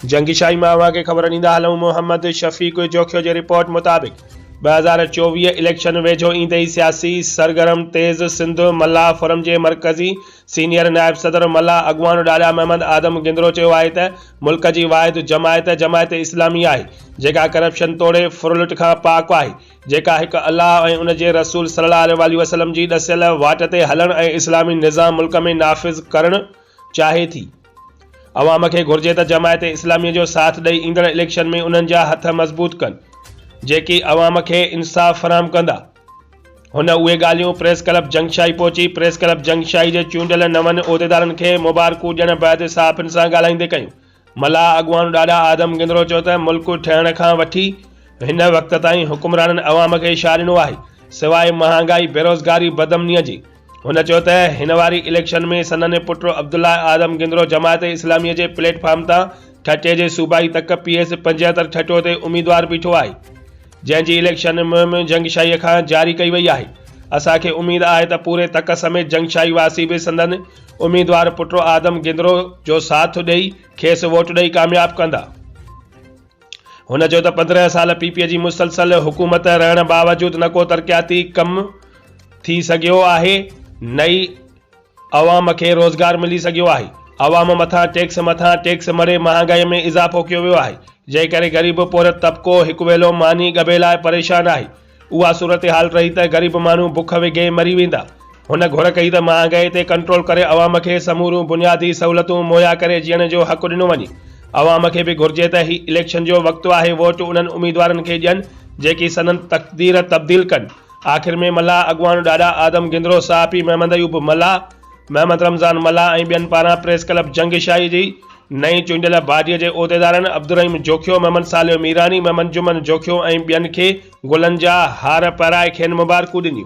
جنگشاهي مان اوهان کي خبر ڏيندا هلون محمد شفيق جوکيو جي رپورٽ مطابق ٻه هزار چوويهه اليڪشن ويجهو ايندي ئي سياسي سرگرم تيز سنڌ ملاح فورم جي مرڪزي سينيئر نائب صدر ملاح اڳواڻ ڏاڏا محمد آدم گندرو چيو آهي ته ملڪ جي واحد جماعت جماعت اسلامي آهي جيڪا ڪرپشن توڙي ڦرلٽ کان پاڪ آهي جيڪا هڪ الله ۽ ان جي رسول صلي الله عليه واٰله وسلم جي ڏسيل واٽ تي هلڻ ۽ اسلامي نظام ملڪ ۾ نافذ ڪرڻ چاهي ٿي. عوام کي گهرجي ته جماعت اسلامي جو ساٿ ڏئي ايندڙ اليڪشن ۾ انهن جا هٿ مضبوط ڪن جيڪي عوام کي انصاف فراهم ڪندا. هن اهي ڳالهيون پريس ڪلب جنگشاهي پهچي پريس ڪلب جنگشاهي جي چونڊيل نون عهديدارن کي مبارڪون ڏيڻ بعد صحافين سان ڳالهائيندي ڪيون. ملاح اڳواڻ ڏاڏا آدم گندرو چيو ته ملڪ ٺهڻ کان وٺي هن وقت تائين حڪمرانن عوام کي ڇا ڏنو آهي سواء مهانگائي، بيروزگاري، بدامني جي. هن چيو ته هن واري اليڪشن ۾ سندن پٽ عبدالله اعظم گندرو جماعت اسلامي جي پليٽ فارم تان ٺٽي جي صوبائي تڪ پي ايس پنجهتر ٺٽو تي اميدوار بيٺو آهي جنهن جي اليڪشن مهم جنگشاهي کان جاري ڪئي وئي آهي اسان کي اميد آهي ته پوري تڪ سميت جنگشاهي واسي به سندن اميدوار پٽ اعظم گندرو جو ساٿ ڏئي کيس ووٽ ڏئي ڪامياب ڪندا. هن چيو ته پندرهن سال پي پي جي مسلسل حڪومت رهڻ باوجود نه ڪو ترقياتي ڪم ٿي سگهيو آهي نه ئي عوام کي روزگار ملي سگهيو آهي، عوام مٿان ٽيڪس مٿان ٽيڪس مڙهي مهانگائي ۾ اضافو ڪيو ويو آهي، جنهن ڪري غريب پورهيت طبقو هڪ ويلو ماني ڳڀي لاء پريشان آهي. اها صورتحال رهي ته غريب ماڻهو بک وگهي مري ويندا. هن گهر ڪئي ته مهانگائي تي ڪنٽرول ڪري عوام کي سموريون بنيادي سهولتون مهيا ڪري جيئڻ جو حق ڏنو وڃي. عوام کي به گهرجي ته هي اليڪشن جو وقت آهي ووٽ انهن اميدوارن کي ڏين جيڪي سندن تقدير تبديل ڪن. آخر ۾ ملاح اڳواڻ ڏاڏا آدم گندرو صاحب پي محمد ايوب ملاح، محمد رمضان ملاح ۽ ٻين پاران پريس ڪلب جنگ شاهي جي نئين چونڊيل باڊيء جي عهديدارن عبدالرحيم جوکيو، محمد صالح ميراني، محمد جمن جوکيو ۽ ٻين کي گلن جا هار پهرائي کين مبارڪون ڏنيون.